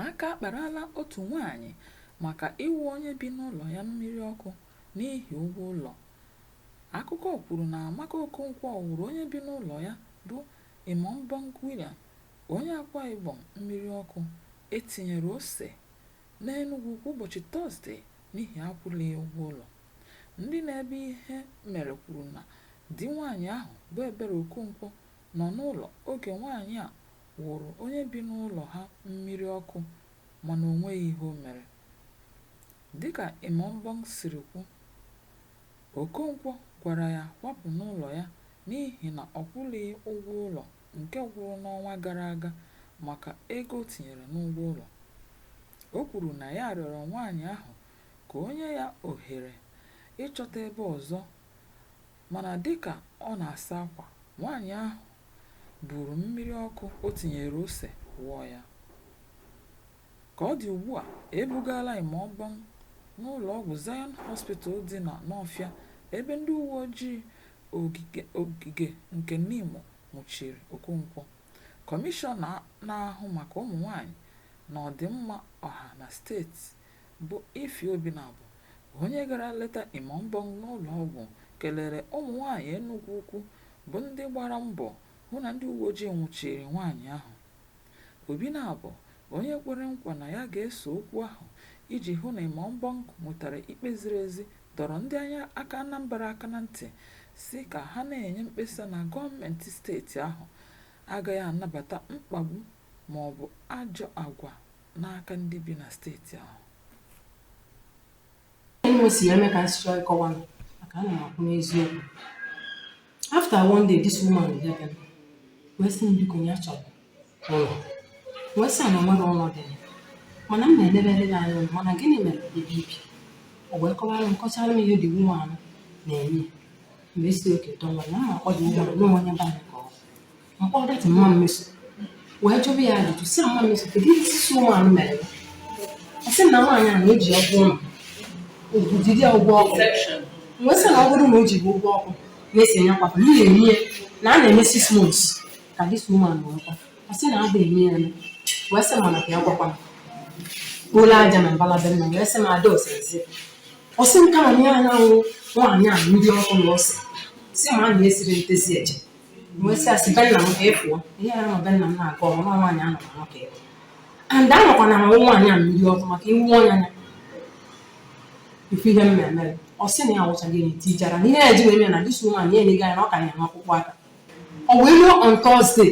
Aka akparala otu nwaanyị maka ịwụ onye bi n'ụlọ ya mmiri ọkụ n'ihi ụgwọ ụlọ. Akụkọ kwuru na Amaka Okonkwo wụrụ onye bi n'ụlọ ya bụ Imaobong William, onye Akwa Ibom mmiri ọkụ e tinyere ose n'Enugwu Ukwu ụbọchị Tọzde n'ihi akwụghị ya ụgwọ ụlọ. Ndị nọ ebe ihe mere kwuru na di nwaanyị ahụ bụ Ebere Okonkwo nọ n'ụlọ oge nwaanyị a wụrụ onye bi n'ụlọ ha mmiri ọkụ mana o nweghị ihe o mere. Dịka Imaobong siri kwu, Okonkwo gwara ya kwapụ n'ụlọ ya n'ihi na ọ kwụlighị ụgwọ ụlọ nke gwụrụ n'ọnwa gara aga maka ego o tinyere n'ụgwọ ụlọ. O kwuru na ya rịọrọ nwaanyị ahụ ka o nye ya ohere ịchọta ebe ọzọ mana dịka ọ na-asa akwa, nwaanyị ahụ buuru mmiri ọkụ o tinyere ose wụọ ya. Ka ọ dị ugbu a, e bugaala Imaobong n'ụlọọgwụ Zion Hospital dị na Nọọfịa ebe ndị uweojii ogige nke Nimo nwụchiri Okonkwo. Kọmishọna na-ahụ maka ụmụnwaanyị na ọdịmma ọha na steeti bụ Ify Obinabo onye gara leta Imaobong n'ụlọọgwụ kelere ụmụnwaanyị Enugwu Ukwu bụ ndị gbara mbọ hụ na ndị uweojii nwụchiri nwaanyị ahụ. Obinabo onye kwere nkwa na ya ga-eso okwu ahụ iji hụ na Imaobong nwetara ikpe ziri ezi dọrọ ndị anya aka Anambra aka na ntị sị ka ha na-enye mkpesa na gọọmenti steeti ahụ agaghị anabata mkpagbu maọbụ ajọ agwa n'aka ndị bi na steeti ahụ Enwe si eme ka nsị chọọ ịkọwa m maka ana m akwụ n'eziokwu after one day this woman bịa bịa wee sị m biko ya chọrọ ụlọ wee sị na nwere ụlọ dị ya. mana m na-elebere ya anya mana gịnị mere ebe i bi o wee kọwara m kọchara m ihe this woman na-eme m wee sị okay tọwa na m akpọ dị nwa anụ onye be anyị ka ọ bụ. mkpọrọ data mama Mmeso wee jụrụ ya ajụjụ sị mama Mmeso kedu ihe this woman mere ọ sị na nwaanyị a na-eji ụgwọ ụlọ ugwu jide ụgwọ ọkụ m wee sị na ọ bụrụ na o ji bụ ụgwọ ọkụ na-esi enye kwapụ n'ihi eme ya na a na-eme six months ka this woman wee kwa ọ sị na a ga-eme ya eme wee sị mana ka ya gwakwa m kpolo aja na mbala be nna m wee sị m ada osezi ọ sị m kama na ya na-awụ nwaanyị a mmiri ọkụ na ose si ma a na-esiri ntezi eje wee sị asị be nna m ka efuo ihe ya nọ be nna m na-aga ọrụ nwa nwaanyị anọ na nwoke ebe and anọkwa na ahụ nwaanyị a mmiri ọkụ maka iwu ọnya ya ife ihe m na-eme ọ sị na ya wụchaghị enyi tijara na ihe ya ji wee mee na this woman ya enyega ya na ọ ka ya n'ọkpụkpụ aka ọ wee ruo on Thursday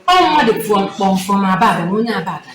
ọ mmadụ pụọ kpọ m from Aba abịa na onye Aba abịa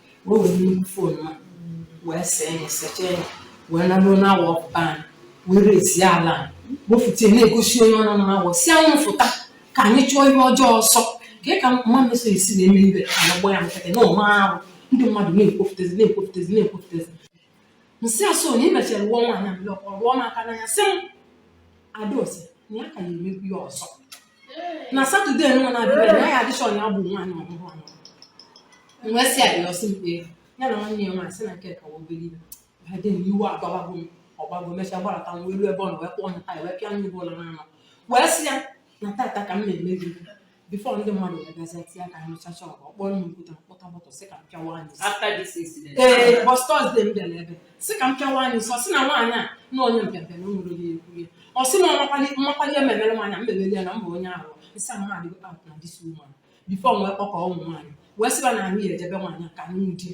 wee were nnukwu phone a wee see ya secha ya wee naruo na awa ọpụtan wee raise-zie alarm. wefụta ya na-egosi onye ọ nọ na awọ sị anyị fụta ka anyị chụọ ihe ọjọọ ọsọ ka ị ka mma meso esi na-eme ibe ka ya gba ya nkịtị na ụma arụ ndị mmadụ na-ekwufụtazi na-ekwufụtazi na-ekwufụtazi nsị asụ na ị mechara rụọ nwaanyị a blọk ọ rụọ m aka n'anya sị m adaosi na ya ka ya emegbu ya ọzọ na Saturday nwa na-abịa na ya adịchọn ya bụ nwaanyị ọhụrụ ahụ wee sị ya ọsị mkpe ya na nwanne ya nwaanyị sị na nke ka wa obere ibe ha dị na iwe agbabago m ọgbago mechaa gbarata m wee ruo ebe ọ na wee kpọọ nya taya wee pịa m ibe ụlọ n'anọ wee sị ya na tata ka m na-eme gị before ndị mmadụ wee bịazie tinye aka nụchacha ọgụ ọkpọ nnu okwute mkpọta mọtọ sị ka m pịawa anyị isi. after this incident ee bụ Thursday m bịara ebe sị ka m pịawa anyị isi ọ sị na nwaanyị a na onye mpịapịa na o nwere onye ekwu ya ọ sị na ọmakwali mmakwali ya memere nwaanyị a mmemeli ya na mba onye ahụ nsị ahụ adịgo out na this woman before m wee kpọkọ ụmụ nwaanyị wee sị ba na anyị eje be nwaanyị a ka anyị nwudie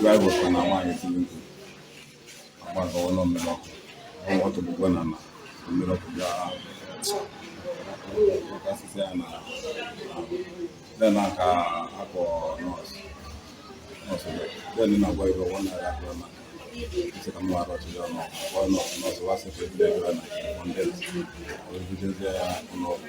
Drivers na nwaanyị tiri mkpu agbagawa na mmiri ọkụ ọnwa tụgbugwe na na mmiri ọkụ bịa kasịsị ya na then aka akpọ nọọsụ nọọsụ then na-agwa ibe nwa naira akpọ na isi ka mụ arọ tụrụ ọnụ ọkpọ nọọsụ nọọsụ wa sị ka ebido ebe na kọndens obidozie ya ụlọ ọgwụ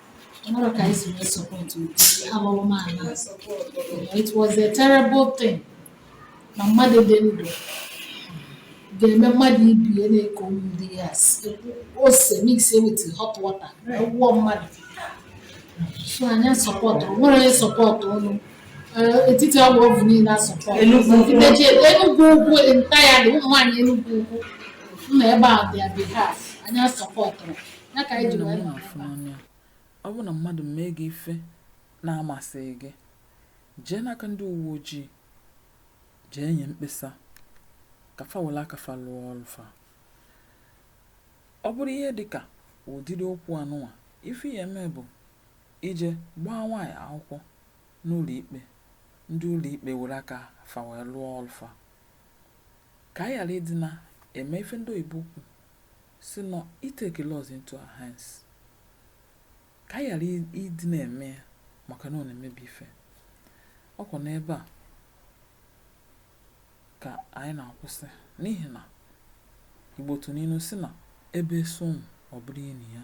O nwerọ ka anyị si wee support ụdị alụlụala a. It was a terrible thing na mmadụ dị ndụ ga-eme mmadụ ibie na community a sị. ose mix with hot water wụọ mmadụ so anyị asọpọtụrọ o nwerọ onye sọpọtụ ụnụ Eh, etiti Awovu niile asọpọtụrọ. Enugwu-Ukwu entire ụmụ nwaanyị Enugwu-Ukwu nọ ebe a on their behalf anyị asọpọtụrọ ọ bụrụ na mmadụ mee gị ife na-amasịghị gị jee n'aka ndị uwe ojii jee nye mkpesa ka fa were aka fa lụọ ọlụ fa ọ bụrụ ihe dị ka ụdịrị okwu anụnwa ife ị ya-eme bụ ije gbaa nwaanyị akwụkwọ n'ụlọ ikpe ndị ụlọ ikpe were aka fa wee lụọ ọlụ fa ka anyị ghara ịdị na-eme ife ndị oyibo kwu sị na i take laws into our hands ka anyị ghara ịdị na-eme ya maka na ọ na-emebi ife ọkwa n'ebe a ka anyị na-akwụsị n'ihi na Igbo tụrụ ilu sị na ebe esu nwụ ọ bụrụ ini ya